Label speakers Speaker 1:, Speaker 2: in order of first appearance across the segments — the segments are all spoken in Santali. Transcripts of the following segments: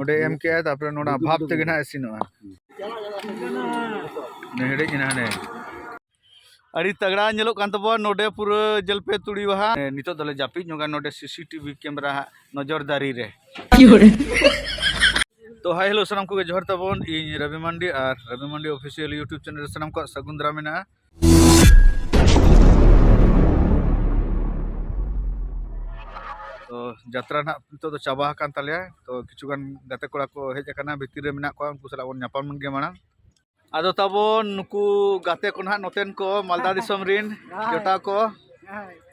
Speaker 1: ᱚᱸᱰᱮ ᱮᱢ ᱠᱮᱜᱼᱟᱭ ᱛᱟᱨᱯᱚᱨᱮ ᱱᱚᱰᱮ ᱵᱷᱟᱵᱽ ᱛᱮᱜᱮ ᱱᱟᱦᱟᱜ ᱤᱥᱤᱱᱚᱜᱼᱟ ᱦᱮᱰᱮᱡ ᱮᱱᱟ ᱦᱟᱱᱮ ᱟᱹᱰᱤ ᱛᱟᱜᱽᱲᱟ ᱧᱮᱞᱚᱜ ᱠᱟᱱ ᱛᱟᱵᱚᱱᱟ ᱱᱚᱰᱮ ᱯᱩᱨᱟᱹ ᱡᱚᱞᱯᱮ ᱛᱩᱲᱤ ᱵᱟᱦᱟ ᱱᱤᱛᱚᱜ ᱫᱚᱞᱮ ᱡᱟᱹᱯᱤᱫ ᱧᱚᱜᱟ ᱱᱚᱰᱮ ᱥᱤᱥᱤᱴᱤᱵᱷᱤ ᱠᱮᱢᱮᱨᱟ ᱦᱟᱸᱜ ᱱᱚᱡᱚᱨᱫᱟᱨᱤ ᱨᱮ ᱛᱚ ᱦᱟᱭ ᱦᱮᱞᱳ ᱥᱟᱱᱟᱢ ᱠᱚᱜᱮ ᱡᱚᱦᱟᱨ ᱛᱟᱵᱚᱱ ᱤᱧ ᱨᱚᱵᱤ ᱢᱟᱱᱰᱤ ᱟᱨ Robi Mandi official YouTube channel ᱨᱮ ᱥᱟᱱᱟᱢ ᱠᱚᱣᱟᱜ ᱥᱟᱹᱜᱩᱱ ᱫᱟᱨᱟᱢ ᱢᱮᱱᱟᱜᱼᱟ ᱛᱚ ᱡᱟᱛᱨᱟ ᱱᱟᱜ ᱱᱤᱛᱚᱜ ᱫᱚ ᱪᱟᱵᱟ ᱟᱠᱟᱱ ᱛᱟᱞᱮᱭᱟ ᱛᱚ ᱠᱤᱪᱷᱩ ᱜᱟᱱ ᱜᱟᱛᱮ ᱠᱚᱲᱟ ᱠᱚ ᱦᱮᱡ ᱟᱠᱟᱱᱟ ᱵᱷᱤᱛᱤᱨ ᱨᱮ ᱢᱮᱱᱟᱜ ᱠᱚᱣᱟ ᱩᱱᱠᱩ ᱥᱟᱞᱟᱜ ᱵᱚᱱ ᱧᱟᱯᱟᱢ ᱞᱮᱱ ᱜᱮ ᱢᱟᱲᱟᱝ ᱟᱫᱚ ᱛᱟᱵᱚᱱ ᱱᱩᱠᱩ ᱜᱟᱛᱮ ᱠᱚ ᱱᱟᱜ ᱱᱚᱛᱮᱱ ᱠᱚ ᱢᱟᱞᱫᱟ ᱫᱤᱥᱚᱢ ᱨᱤᱱ ᱡᱚᱴᱟᱣ ᱠᱚ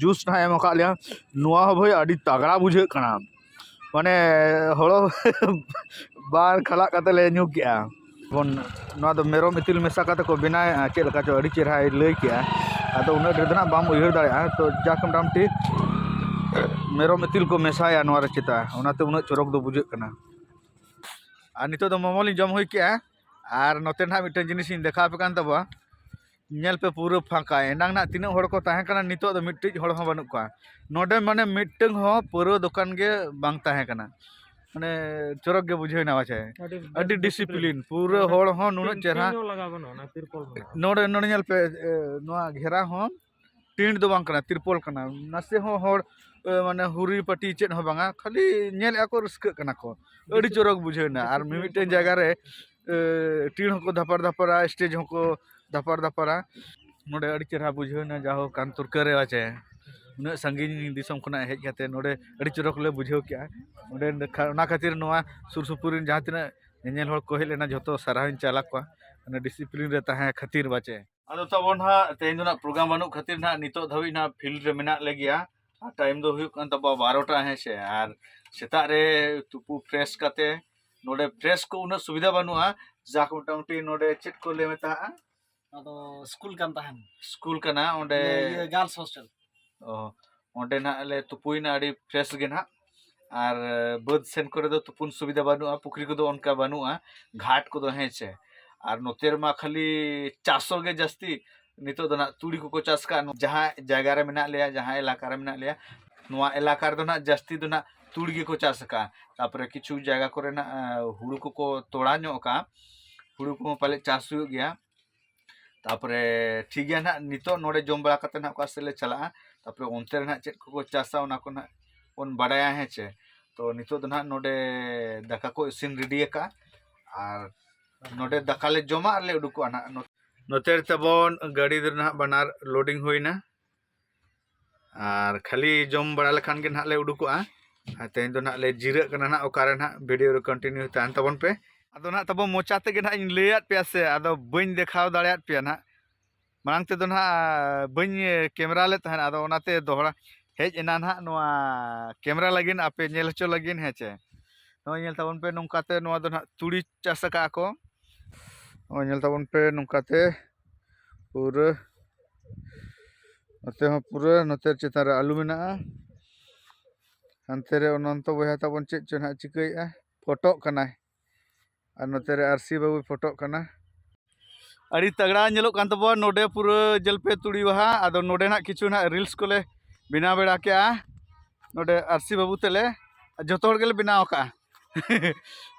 Speaker 1: ᱡᱩᱥ ᱦᱚᱸᱭ ᱮᱢ ᱠᱟᱜ ᱞᱮᱭᱟ ᱱᱚᱣᱟ ᱦᱚᱸ ᱵᱷᱟᱹᱭ ᱟᱹᱰᱤ ᱛᱟᱜᱽᱲᱟ ᱵᱩᱡᱷᱟᱹᱜ ᱠᱟᱱᱟ ᱢᱟᱱᱮ ᱦᱚᱲᱚ ᱵᱟᱨ ᱠᱷᱟᱞᱟᱜ ᱠᱟᱛᱮᱫ ᱞᱮ ᱧᱩ ᱠᱮᱜᱼᱟ ᱵᱚᱱ ᱱᱚᱣᱟ ᱫᱚ ᱢᱮᱨᱚᱢ ᱤᱛᱤᱞ ᱢᱮᱥᱟ ᱠᱟᱛᱮᱫ ᱠᱚ ᱵᱮᱱᱟᱣᱮᱜᱼᱟ ᱪᱮᱫ ᱞᱮᱠᱟ ᱪᱚ ᱟᱹᱰᱤ ᱪᱮᱦᱨᱟᱭ ᱞᱟᱹᱭ ᱠᱮᱜᱼᱟ ᱟᱫᱚ ᱩᱱᱟᱹᱜ ᱰᱷᱮᱨ ᱫᱚ ᱦᱟᱸᱜ ᱵᱟᱢ ᱩᱭᱦᱟᱹᱨ ᱫᱟᱲᱮᱭᱟᱜᱼᱟ ᱛᱚ ᱡᱟᱠ ᱢᱳᱴᱟᱢᱩᱴᱤ ᱢᱮᱨᱚᱢ ᱤᱛᱤᱞ ᱠᱚ ᱢᱮᱥᱟᱭᱟ ᱱᱚᱣᱟᱨᱮ ᱪᱮᱛᱟ ᱚᱱᱟᱛᱮ ᱩᱱᱟᱹᱜ ᱪᱚᱨᱚᱠ ᱫᱚ ᱵᱩᱡᱷᱟᱹᱜ ᱠᱟᱱᱟ ᱟᱨ ᱱᱤᱛᱚᱜ ᱫᱚ ᱢᱳᱢᱳ ᱞᱤᱧ ᱡᱚᱢ ᱦᱩᱭ ᱠᱮᱜᱼᱟ ᱟᱨ ᱱᱚᱛᱮ ᱱᱟᱦᱟᱜ ᱢᱤᱫᱴᱮᱱ ᱡᱤᱱᱤᱥ ᱤᱧ ᱫᱮᱠᱷᱟᱣ ᱟᱯᱮ ᱠᱟᱱ ᱛᱟᱵᱚᱣᱟ ᱧᱮᱞ ᱯᱮ ᱯᱩᱨᱟᱹ ᱯᱷᱟᱸᱠᱟ ᱮᱱᱟᱝ ᱱᱟᱦᱟᱜ ᱛᱤᱱᱟᱹᱜ ᱦᱚᱲ ᱠᱚ ᱛᱟᱦᱮᱸ ᱠᱟᱱᱟ ᱱᱤᱛᱚᱜ ᱫᱚ ᱢᱤᱫᱴᱤᱡ ᱦᱚᱲ ᱦᱚᱸ ᱵᱟᱹᱱᱩᱜ ᱠᱚᱣᱟ ᱱᱚᱰᱮ ᱢᱟᱱᱮ ᱢᱤᱫᱴᱟᱹᱝ ᱦᱚᱸ ᱯᱟᱹᱣᱨᱟᱹ ᱫᱚᱠᱟᱱ ᱜᱮ ᱵᱟᱝ ᱛᱟᱦᱮᱸ ᱠᱟᱱᱟ ᱢᱟᱱᱮ ᱪᱚᱨᱚᱠ ᱜᱮ ᱵᱩᱡᱷᱟᱹᱣ ᱮᱱᱟ ᱯᱟᱪᱮ ᱟᱹᱰᱤ ᱰᱤᱥᱤᱯᱞᱤᱱ ᱯᱩᱨᱟᱹ ᱦᱚᱲ ᱦᱚᱸ ᱱᱩᱱᱟᱹᱜ ᱪᱮᱦᱨᱟ
Speaker 2: ᱱᱚᱰᱮ ᱱᱚᱰᱮ ᱧᱮᱞ ᱯᱮ
Speaker 1: ᱱᱚᱣᱟ ᱜᱷᱮᱨᱟ ᱦᱚᱸ ᱴᱮᱱᱴ ᱫᱚ ᱵᱟᱝ ᱠᱟᱱᱟ ᱛᱤᱨᱯᱚᱞ ᱠᱟᱱᱟ ᱱᱟᱥᱮ ᱦᱚᱸ ᱦᱚᱲ ᱢᱟᱱᱮ ᱦᱩᱨᱤ ᱯᱟᱴᱤ ᱪᱮᱫ ᱦᱚᱸ ᱵᱟᱝᱟ ᱠᱷᱟᱹᱞᱤ ᱧᱮᱞᱮᱫᱼᱟ ᱠᱚ ᱨᱟᱹᱥᱠᱟᱹᱜ ᱠᱟᱱᱟ ᱠᱚ ᱟᱹᱰᱤ ᱪᱚᱨᱚᱠ ᱵᱩᱡᱷᱟᱹᱣ ᱮᱱᱟ ᱟᱨ ᱢᱤᱢᱤᱫᱴᱮᱱ ᱡᱟᱭᱜᱟ ᱨᱮ ᱴᱤᱲ ᱦᱚᱸᱠᱚ ᱫᱷᱟᱯᱟᱲ ᱫᱷᱟᱯᱟᱲᱟ ᱥᱴᱮᱡᱽ ᱦᱚᱸᱠᱚ ᱫᱷᱟᱯᱟᱲ ᱫᱷᱟᱯᱟᱲᱟ ᱱᱚᱰᱮ ᱟᱹᱰᱤ ᱪᱮᱦᱨᱟ ᱵᱩᱡᱷᱟᱹᱣ ᱮᱱᱟ ᱡᱟᱭ ᱦᱳᱠ ᱠᱟᱱᱛᱩᱨᱠᱟᱹ ᱨᱮ ᱯᱟᱪᱮ ᱩᱱᱟᱹᱜ ᱥᱟᱺᱜᱤᱧ ᱫᱤᱥᱚᱢ ᱠᱷᱚᱱᱟᱜ ᱦᱮᱡ ᱠᱟᱛᱮ ᱱᱚᱰᱮ ᱟᱹᱰᱤ ᱪᱚᱨᱚᱠ ᱞᱮ ᱵᱩᱡᱷᱟᱹᱣ ᱠᱮᱫᱼᱟ ᱚᱸᱰᱮ ᱚᱱᱟ ᱠᱷᱟᱹᱛᱤᱨ ᱱᱚᱣᱟ ᱥᱩᱨ ᱥᱩᱯᱩᱨ ᱨᱮᱱ ᱡᱟᱦᱟᱸ ᱛᱤᱱᱟᱹᱜ ᱧᱮᱧᱮᱞ ᱦᱚᱲ ᱠᱚ ᱦᱮᱡ ᱞᱮᱱᱟ ᱡᱚᱛᱚ ᱥᱟᱨᱦᱟᱣ ᱤᱧ ᱪᱟᱞ ᱟᱠᱚᱣᱟ ᱚᱱᱟ ᱰᱤᱥᱤᱯᱞᱤᱱ ᱨᱮ ᱛᱟᱦᱮᱸ ᱠᱷᱟᱹᱛᱤᱨ ᱯᱟᱪᱮ ᱟᱫᱚ ᱛᱟᱵᱚ ᱱᱟᱦᱟᱜ ᱛᱮᱦᱮᱧ ᱫᱚ ᱱᱟᱦᱟᱜ ᱯᱨᱳᱜᱨᱟᱢ ᱵᱟᱹᱱᱩᱜ ᱠᱷᱟᱹᱛᱤᱨ ᱱᱟᱦᱟᱜ ᱱᱤᱛᱚᱜ ᱫᱷᱟᱹᱵᱤᱡ ᱱᱟᱦᱟᱜ ᱯᱷᱤᱞᱰ ᱨᱮ ᱢᱮᱱᱟᱜ ᱞᱮᱜᱮᱭᱟ ᱟᱨ ᱴᱟᱭᱤᱢ ᱫᱚ ᱦᱩᱭᱩᱜ ᱠᱟᱱ ᱛᱟᱵᱚᱣᱟ ᱵᱟᱨᱚᱴᱟ ᱦᱮᱸ ᱥᱮ ᱟᱨ ᱥᱮᱛᱟᱜ ᱨᱮ ᱛᱩᱯᱩ ᱯᱷᱨᱮᱥ ᱠᱟᱛᱮ ᱱᱚᱰᱮ ᱯᱷᱨᱮᱥ ᱠᱚ ᱩᱱᱟᱹᱜ ᱥᱩᱵᱤᱫᱷᱟ ᱵᱟᱹᱱᱩᱜᱼᱟ ᱡᱟᱠ ᱢᱚᱴᱟᱢᱩᱴᱤ ᱱᱚᱰᱮ ᱪᱮᱫ ᱠᱚ ᱞᱟᱹᱭ ᱢᱮᱛᱟᱜᱼᱟ ᱟᱫᱚ
Speaker 3: ᱥᱠᱩᱞ ᱠᱟᱱ ᱛᱟᱦᱮᱱ ᱥᱠᱩᱞ ᱠᱟᱱᱟ ᱚᱸᱰᱮ
Speaker 1: ᱜᱟᱨᱞᱥ ᱦᱳᱥᱴᱮᱞ
Speaker 3: ᱚ
Speaker 1: ᱚᱸᱰᱮ ᱱᱟᱜ ᱞᱮ ᱛᱩᱯᱩᱭᱮᱱᱟ ᱟᱹᱰᱤ ᱯᱷᱨᱮᱥ ᱜᱮ ᱱᱟᱜ ᱟᱨ ᱵᱟᱹᱫᱽ ᱥᱮᱱ ᱠᱚᱨᱮ ᱫᱚ ᱛᱩᱯᱩᱱ ᱥᱩᱵᱤᱫᱷᱟ ᱵᱟᱹᱱᱩᱜᱼᱟ ᱯᱩᱠᱷᱨᱤ ᱠᱚᱫᱚ ᱚᱱᱠᱟ ᱵᱟᱹᱱᱩᱜᱼᱟ ᱜᱷᱟᱴ ᱠᱚᱫᱚ ᱦᱮᱸ ᱪᱮ ᱟᱨ ᱱᱚᱛᱮ ᱨᱮᱢᱟ ᱠᱷᱟᱹᱞᱤ ᱪᱟᱥᱚᱜ ᱜᱮ ᱡᱟᱹᱥᱛᱤ ᱱᱤᱛᱚᱜ ᱫᱚ ᱱᱟᱜ ᱛᱩᱲᱤ ᱠᱚᱠᱚ ᱪᱟᱥ ᱠᱟᱜᱼᱟ ᱡᱟᱦᱟᱸ ᱡᱟᱭᱜᱟ ᱨᱮ ᱢᱮᱱᱟᱜ ᱞᱮᱭᱟ ᱡᱟᱦᱟᱸ ᱮᱞᱟᱠᱟ ᱨᱮ ᱢᱮᱱᱟᱜ ᱞᱮᱭᱟ ᱱᱚᱣᱟ ᱮᱞᱟᱠᱟ ᱨᱮᱫᱚ ᱱᱟᱜ ᱡᱟᱹᱥᱛᱤ ᱫᱚ ᱱᱟᱜ ᱛᱩᱲᱤ ᱜᱮᱠᱚ ᱪᱟᱥ ᱠᱟᱜᱼᱟ ᱛᱟᱨᱯᱚᱨᱮ ᱠᱤᱪᱷᱩ ᱡᱟᱭᱜᱟ ᱠᱚᱨᱮ ᱱᱟᱜ ᱦᱩᱲᱩ ᱠᱚᱠᱚ ᱛᱚᱲᱟ ᱧᱚᱜ ᱠᱟᱜᱼᱟ ᱦᱩᱲᱩ ᱠᱚᱦᱚᱸ ᱯᱟᱞᱮᱫ ᱪᱟᱥ ᱦᱩᱭᱩᱜ ᱜᱮᱭᱟ ᱛᱟᱯᱚᱨᱮ ᱴᱷᱤᱠ ᱜᱮᱭᱟ ᱱᱟᱦᱟᱜ ᱱᱤᱛᱚᱜ ᱱᱚᱰᱮ ᱡᱚᱢ ᱵᱟᱲᱟ ᱠᱟᱛᱮ ᱱᱟᱦᱟᱜ ᱚᱠᱟ ᱥᱮᱫ ᱞᱮ ᱪᱟᱞᱟᱜᱼᱟ ᱛᱟᱯᱚᱨᱮ ᱚᱱᱛᱮ ᱨᱮ ᱱᱟᱦᱟᱜ ᱪᱮᱫ ᱠᱚᱠᱚ ᱪᱟᱥᱟ ᱚᱱᱟ ᱠᱚ ᱱᱟᱦᱟᱜ ᱵᱚᱱ ᱵᱟᱰᱟᱭᱟ ᱦᱮᱸ ᱪᱮ ᱛᱚ ᱱᱤᱛᱚᱜ ᱫᱚ ᱱᱟᱦᱟᱜ ᱱᱚᱰᱮ ᱫᱟᱠᱟ ᱠᱚ ᱤᱥᱤᱱ ᱨᱮᱰᱤ ᱟᱠᱟᱫᱼᱟ ᱟᱨ ᱱᱚᱰᱮ ᱫᱟᱠᱟ ᱞᱮ ᱡᱚᱢᱟ ᱟᱨ ᱞᱮ ᱩᱰᱩᱠᱚᱜᱼᱟ ᱱᱟᱦᱟᱜ ᱱᱚᱛᱮ ᱨᱮ ᱛᱟᱵᱚᱱ ᱜᱟᱹᱰᱤ ᱫᱚ ᱱᱟᱦᱟᱜ ᱵᱟᱱᱟᱨ ᱞᱳᱰᱤᱝ ᱦᱩᱭᱱᱟ ᱟᱨ ᱠᱷᱟᱹᱞᱤ ᱡᱚᱢ ᱵᱟᱲᱟ ᱞᱮᱠᱷᱟᱱ ᱜᱮ ᱱᱟᱦᱟᱜ ᱞᱮ ᱩᱰᱩᱠᱚᱜᱼᱟ ᱟᱨ ᱛᱮᱦᱮᱧ ᱫᱚ ᱱᱟᱦᱟᱜ ᱞᱮ ᱡᱤᱨᱟᱹᱜ ᱠᱟᱱᱟ ᱱᱟᱦᱟᱜ ᱚᱠᱟᱨᱮ ᱱᱟᱦᱟᱜ ᱵᱷᱤᱰᱤᱭᱳ ᱨᱮ ᱠᱚᱱᱴᱤᱱᱤᱭᱩ ᱛᱟᱦᱮᱱ ᱛᱟᱵᱚᱱ ᱯᱮ ᱟᱫᱚ ᱱᱟᱦᱟᱜ ᱛᱟᱵᱚ ᱢᱚᱪᱟ ᱛᱮᱜᱮ ᱱᱟᱦᱟᱜ ᱤᱧ ᱞᱟᱹᱭᱟᱫ ᱯᱮᱭᱟ ᱥᱮ ᱟᱫᱚ ᱵᱟᱹᱧ ᱫᱮᱠᱷᱟᱣ ᱫᱟᱲᱮᱭᱟᱫ ᱯᱮᱭᱟ ᱱᱟᱦᱟᱜ ᱢᱟᱲᱟᱝ ᱛᱮᱫᱚ ᱱᱟᱦᱟᱜ ᱵᱟᱹᱧ ᱠᱮᱢᱮᱨᱟ ᱞᱮᱫ ᱛᱟᱦᱮᱱ ᱟᱫᱚ ᱚᱱᱟᱛᱮ ᱫᱚᱦᱲᱟ ᱦᱮᱡ ᱮᱱᱟ ᱱᱟᱦᱟᱜ ᱱᱚᱣᱟ ᱠᱮᱢᱮᱨᱟ ᱞᱟᱹᱜᱤᱫ ᱟᱯᱮ ᱧᱮᱞ ᱦᱚᱪᱚ ᱞᱟᱹᱜᱤᱫ ᱦᱮᱸ ᱪᱮ ᱱᱚᱜᱼᱚᱭ ᱧᱮᱞ ᱛᱟᱵᱚᱱ ᱯᱮ ᱱᱚᱝᱠᱟᱛᱮ ᱱᱚᱣᱟ ᱫᱚ ᱱᱟᱦᱟᱜ ᱛᱩᱲᱤ ᱪᱟᱥ ᱟᱠᱟᱫᱼᱟ ᱠᱚ ᱱᱚᱜᱼᱚᱭ ᱧᱮᱞ ᱛᱟᱵᱚᱱ ᱯᱮ ᱱᱚᱝᱠᱟᱛᱮ ᱯᱩᱨᱟᱹ ᱱᱚᱛᱮ ᱦᱚᱸ ᱯᱩᱨᱟᱹ ᱱᱚᱛᱮ ᱪᱮᱛᱟᱱ ᱨᱮ ᱟᱹᱞᱩ ᱢᱮᱱᱟᱜᱼᱟ ᱦᱟᱱᱛᱮ ᱨᱮ ᱚᱱᱚᱱᱛᱚ ᱵᱚᱭᱦᱟ ᱛᱟᱵᱚᱱ ᱪᱮᱫ ᱪᱚ ᱦᱟᱸᱜ ᱪᱤᱠᱟᱹᱭᱮᱫᱼᱟ ᱯᱷᱳᱴᱳᱜ ᱠᱟᱱᱟᱭ ᱟᱨ ᱱᱚᱛᱮ ᱨᱮ ᱟᱨᱥᱤ ᱵᱟᱹᱵᱩᱭ ᱯᱷᱳᱴᱳᱜ ᱠᱟᱱᱟ ᱟᱹᱰᱤ ᱛᱟᱜᱽᱲᱟ ᱧᱮᱞᱚᱜ ᱠᱟᱱ ᱛᱟᱵᱚᱱᱟ ᱱᱚᱰᱮ ᱯᱩᱨᱟᱹ ᱡᱮᱞᱯᱮ ᱛᱩᱲᱤ ᱵᱟᱦᱟ ᱟᱫᱚ ᱱᱚᱰᱮ ᱦᱟᱸᱜ ᱠᱤᱪᱷᱩ ᱦᱟᱸᱜ ᱨᱤᱞᱥ ᱠᱚᱞᱮ ᱵᱮᱱᱟᱣ ᱵᱟᱲᱟ ᱠᱮᱜᱼᱟ ᱱᱚᱰᱮ ᱟᱨᱥᱤ ᱵᱟᱹᱵᱩ ᱛᱮᱞᱮ ᱡᱚᱛᱚ ᱦᱚᱲ ᱜᱮᱞᱮ ᱵᱮᱱᱟᱣ ᱠᱟᱜᱼᱟ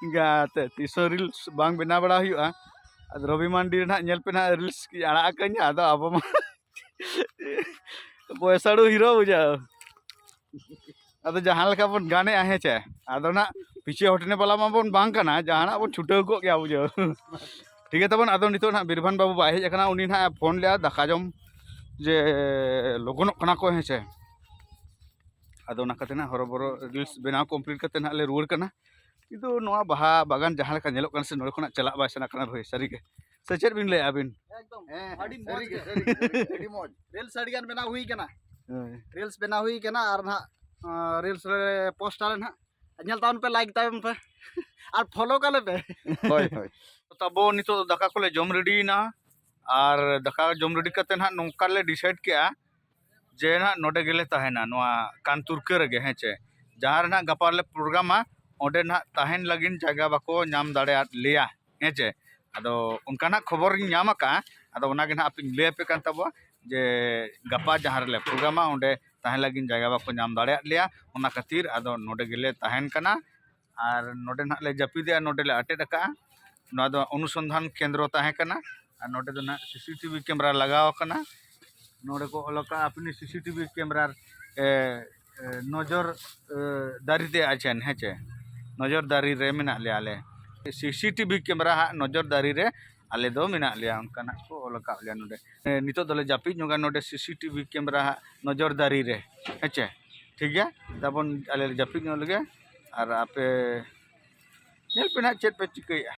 Speaker 1: ᱤᱱᱠᱟᱹ ᱛᱮ ᱛᱤᱥ ᱦᱚᱸ ᱨᱤᱞᱥ ᱵᱟᱝ ᱵᱮᱱᱟᱣ ᱵᱟᱲᱟ ᱦᱩᱭᱩᱜᱼᱟ ᱟᱫᱚ ᱨᱚᱵᱤ ᱢᱟᱱᱰᱤ ᱨᱮᱱᱟᱜ ᱧᱮᱞ ᱯᱮ ᱦᱟᱸᱜ ᱨᱤᱞᱥ ᱠᱚᱧ ᱟᱲᱟᱜ ᱟᱠᱟᱫ ᱜᱮᱭᱟ ᱟᱫᱚ ᱟᱵᱚ ᱢᱟ ᱯᱚᱭᱥᱟᱲᱩ ᱦᱤᱨᱳ ᱵᱩᱡᱷᱟᱹᱣ ᱟᱫᱚ ᱡᱟᱦᱟᱸ ᱞᱮᱠᱟ ᱵᱚᱱ ᱜᱟᱱᱮᱜᱼᱟ ᱦᱮᱸ ᱪᱮ ᱟᱫᱚ ᱱᱟᱜ ᱯᱤᱪᱷᱮ ᱦᱚᱴᱱᱮ ᱵᱟᱞᱟ ᱢᱟᱵᱚᱱ ᱵᱟᱝ ᱠᱟᱱᱟ ᱡᱟᱦᱟᱱᱟᱜ ᱵᱚᱱ ᱪᱷᱩᱴᱟᱹᱣ ᱠᱚᱜ ᱜᱮᱭᱟ ᱵᱩᱡᱷᱟᱹᱣ ᱴᱷᱤᱠ ᱜᱮᱭᱟ ᱛᱟᱵᱚᱱ ᱟᱫᱚ ᱱᱤᱛᱚᱜ ᱱᱟᱜ ᱵᱤᱨᱵᱷᱟᱱ ᱵᱟᱹᱵᱩ ᱵᱟᱭ ᱦᱮᱡ ᱟᱠᱟᱱᱟ ᱩᱱᱤ ᱱᱟᱜ ᱯᱷᱳᱱ ᱞᱮᱫᱼᱟ ᱫᱟᱠᱟ ᱡᱚᱢ ᱡᱮ ᱞᱚᱜᱚᱱᱚᱜ ᱠᱟᱱᱟ ᱠᱚ ᱦᱮᱸ ᱪᱮ ᱟᱫᱚ ᱚᱱᱟ ᱠᱟᱛᱮ ᱱᱟᱜ ᱦᱚᱨᱚᱵᱚᱨᱚ ᱨᱤᱞᱥ ᱵᱮᱱᱟᱣ ᱠᱚᱢᱯᱞᱤᱴ ᱠᱟᱛᱮ ᱱᱟᱜ ᱞᱮ ᱨᱩᱣᱟᱹᱲ ᱠᱟᱱᱟ ᱠᱤᱱᱛᱩ ᱱᱚᱣᱟ ᱵᱟᱦᱟ ᱵᱟᱜᱟᱱ ᱡᱟᱦᱟᱸ ᱞᱮᱠᱟ ᱧᱮᱞᱚᱜ ᱠᱟᱱᱟ ᱥᱮ ᱱᱚᱰᱮ ᱠᱷᱚᱱᱟᱜ ᱪᱟᱞᱟᱜ ᱵᱟᱭ ᱥᱟᱱᱟ ᱠᱟᱱᱟ ᱵᱷᱟᱹᱭ ᱥᱟᱹᱨᱤ ᱜᱮ ᱥᱮ ᱪᱮᱫ ᱵᱤᱱ ᱞᱟᱹᱭᱟ ᱟᱹᱵᱤᱱ ᱮᱠᱫᱚᱢ ᱟᱹᱰᱤ ᱢᱚᱡᱽ ᱜᱮ ᱟᱹᱰᱤ
Speaker 3: ᱢᱚᱡᱽ ᱨᱤᱞᱥ ᱟᱹᱰᱤ ᱜᱟᱱ ᱵᱮᱱᱟᱣ ᱦᱩᱭ ᱠᱟᱱᱟ ᱨᱤᱞᱥ ᱵᱮᱱᱟᱣ ᱦᱩᱭ ᱠᱟᱱᱟ ᱟᱨ ᱱᱟᱜ ᱨᱤᱞᱥ ᱨᱮ ᱯᱳᱥᱴ ᱟᱞᱮ ᱱᱟᱜ ᱧᱮᱞ ᱛᱟᱵᱚᱱ ᱯᱮ ᱞᱟᱭᱤᱠ ᱛᱟᱵᱚᱱ ᱯᱮ ᱟᱨ ᱯᱷᱚᱞᱳ ᱠᱟᱞᱮ ᱯᱮ ᱦᱳᱭ ᱦᱳᱭ
Speaker 1: ᱛᱟᱵᱚ ᱱᱤᱛᱚᱜ ᱫᱟᱠᱟ ᱠᱚᱞᱮ ᱡᱚᱢ ᱨᱮᱰᱤᱭᱮᱱᱟ ᱟᱨ ᱫᱟᱠᱟ ᱡᱚᱢ ᱨᱮᱰᱤ ᱠᱟᱛᱮ ᱱᱟᱜ ᱱᱚᱝᱠᱟ ᱞᱮ ᱰᱤᱥᱟᱭᱤᱰ ᱠᱮᱜᱼᱟ ᱡᱮ ᱱᱟᱦᱟᱜ ᱱᱚᱰᱮ ᱜᱮᱞᱮ ᱛᱟᱦᱮᱱᱟ ᱱᱚᱣᱟ ᱠᱟᱱᱛᱩᱨᱠᱟᱹ ᱨᱮᱜᱮ ᱦᱮᱸ ᱪᱮ ᱡᱟᱦᱟᱸ ᱨᱮ ᱱᱟᱦᱟᱜ ᱜᱟᱯᱟ ᱞᱮ ᱯᱨᱳᱜᱨᱟᱢᱟ ᱚᱸᱰᱮ ᱱᱟᱦᱟᱜ ᱛᱟᱦᱮᱱ ᱞᱟᱹᱜᱤᱫ ᱡᱟᱭᱜᱟ ᱵᱟᱠᱚ ᱧᱟᱢ ᱫᱟᱲᱮᱭᱟᱫ ᱞᱮᱭᱟ ᱦᱮᱸ ᱪᱮ ᱟᱫᱚ ᱚᱱᱠᱟ ᱱᱟᱦᱟᱜ ᱠᱷᱚᱵᱚᱨ ᱤᱧ ᱧᱟᱢ ᱟᱠᱟᱫᱼᱟ ᱟᱫᱚ ᱚᱱᱟ ᱜᱮ ᱱᱟᱦᱟᱜ ᱟᱯᱮᱧ ᱞᱟᱹᱭ ᱟᱯᱮ ᱠᱟᱱ ᱛᱟᱵᱚᱣᱟ ᱡᱮ ᱜᱟᱯᱟ ᱡᱟᱦᱟᱸ ᱨᱮᱞᱮ ᱯᱨᱳᱜᱨᱟᱢᱟ ᱚᱸᱰᱮ ᱛᱟᱦᱮᱱ ᱞᱟᱹᱜᱤᱫ ᱡᱟᱭᱜᱟ ᱵᱟᱠᱚ ᱧᱟᱢ ᱫᱟᱲᱮᱭᱟᱫ ᱞᱮᱭᱟ ᱚᱱᱟ ᱠᱷᱟᱹᱛᱤᱨ ᱟᱫᱚ ᱱᱚᱰᱮ ᱜᱮᱞᱮ ᱛᱟᱦᱮᱱ ᱠᱟᱱᱟ ᱟᱨ ᱱᱚᱰᱮ ᱱᱟᱦᱟᱜ ᱞᱮ ᱡᱟᱹᱯᱤᱫᱮᱜᱼᱟ ᱱᱚᱰᱮ ᱞᱮ ᱟᱴᱮᱫ ᱠᱟᱜᱼᱟ ᱱᱚᱣᱟ ᱫᱚ ᱚᱱᱩᱥᱚᱱᱫᱷᱟᱱ ᱠᱮᱱᱫᱨᱚ ᱛᱟᱦᱮᱸ ᱠᱟᱱᱟ ᱟᱨ ᱱᱚᱰᱮ ᱫᱚ ᱱᱟᱦᱟᱜ ᱥᱤᱥᱤ ᱴᱤᱵᱷᱤ ᱠᱮᱢᱮᱨᱟ ᱞᱟᱜᱟᱣ ᱠᱟᱱᱟ ᱱᱚᱰᱮ ᱠᱚ ᱚᱞ ᱠᱟᱜᱼᱟ ᱟᱹᱯᱤᱱ ᱥᱤᱥᱤ ᱴᱤᱵᱷᱤ ᱠᱮᱢᱮᱨᱟ ᱱᱚᱡᱚᱨ ᱫᱟᱨᱮ ᱛᱮ ᱟᱪᱮᱱ ᱦᱮᱸ ᱪᱮ ᱱᱚᱡᱚᱨ ᱫᱟᱨᱮ ᱨᱮ ᱢᱮᱱᱟᱜ ᱞᱮᱭᱟ ᱟᱞᱮ ᱥᱤᱥᱤ ᱴᱤᱵᱷᱤ ᱠᱮᱢᱮᱨᱟ ᱦᱟᱜ ᱱᱚᱡᱚᱨ ᱫᱟᱨᱮ ᱨᱮ ᱟᱞᱮ ᱫᱚ ᱢᱮᱱᱟᱜ ᱞᱮᱭᱟ ᱚᱱᱠᱟᱱᱟᱜ ᱠᱚ ᱚᱞ ᱟᱠᱟᱫ ᱞᱮᱭᱟ ᱱᱚᱰᱮ ᱱᱤᱛᱚᱜ ᱫᱚᱞᱮ ᱡᱟᱹᱯᱤᱫ ᱧᱚᱜᱟ ᱱᱚᱰᱮ ᱥᱤ ᱥᱤ ᱴᱤ ᱵᱷᱤ ᱠᱮᱢᱮᱨᱟ ᱦᱟᱸᱜ ᱱᱚᱡᱚᱨ ᱫᱟᱨᱮ ᱨᱮ ᱦᱮᱸᱥᱮ ᱴᱷᱤᱠ ᱜᱮᱭᱟ ᱛᱟᱵᱚᱱ ᱟᱞᱮ ᱞᱮ ᱡᱟᱹᱯᱤᱫ ᱧᱚᱜ ᱞᱮᱜᱮ ᱟᱨ ᱟᱯᱮ ᱧᱮᱞ ᱯᱮ ᱦᱟᱸᱜ ᱪᱮᱫ ᱯᱮ ᱪᱤᱠᱟᱹᱭᱮᱜᱼᱟ